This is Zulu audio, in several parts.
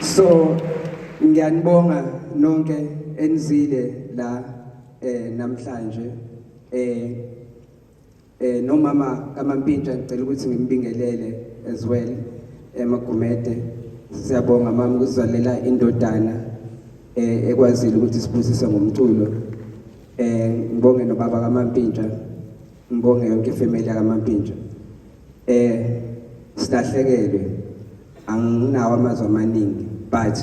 So ngiyanibonga nonke enizile la eh namhlanje eh eh nomama kaMampintsha ngicela ukuthi ngimbingelele as well emagumede eh, siyabonga mama ukuzwalela indodana eh ekwazile ukuthi sibusise ngomculo eh ngibonge nobaba kaMampintsha ngibonge yonke ifamily kaMampintsha Eh silahlekelwe anginawo amazwi amaningi but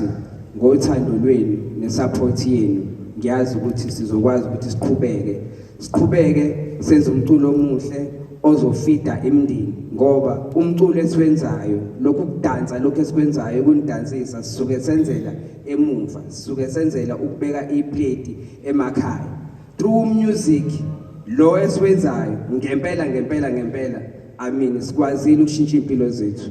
ngothando lwenu nesupport yenu ngiyazi ukuthi sizokwazi ukuthi siqhubeke siqhubeke senze umculo omuhle ozofida imndeni ngoba umculo esiwenzayo lokhu kudansa lokhu esikwenzayo kunidansisa sisuke senzela emuva sisuke senzela ukubeka iplate emakhaya True music lo esiwenzayo ngempela ngempela ngempela amini sikwazile ukushintsha impilo zethu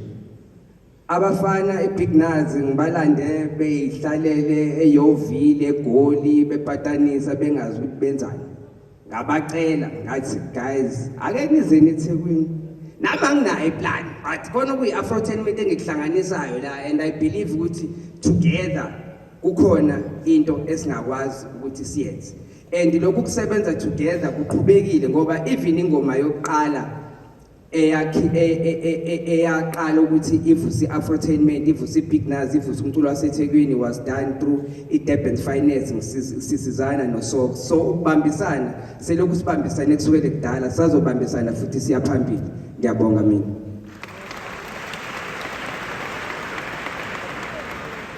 abafana eBig Nazi ngibalande beyihlalele eyovile egoli bepatanisa bengazi ukuthi benzani ngabacela ngathi guys ake nizeni eThekwini nami anginayo iplan but khona kuyi-afro ten mete engikuhlanganisayo la and i believe ukuthi together kukhona into esingakwazi ukuthi siyenze and lokhu kusebenza together kuqhubekile ngoba even ingoma yokuqala eyakhi e, e, e, eyaqala ukuthi ivusi afrotainment ivusi big naz ivusi umculo wasethekwini was done through i-durban finance sisizana nosok so ukubambisana selokhu sibambisane kusukele kudala sazobambisana futhi siya phambili ngiyabonga mina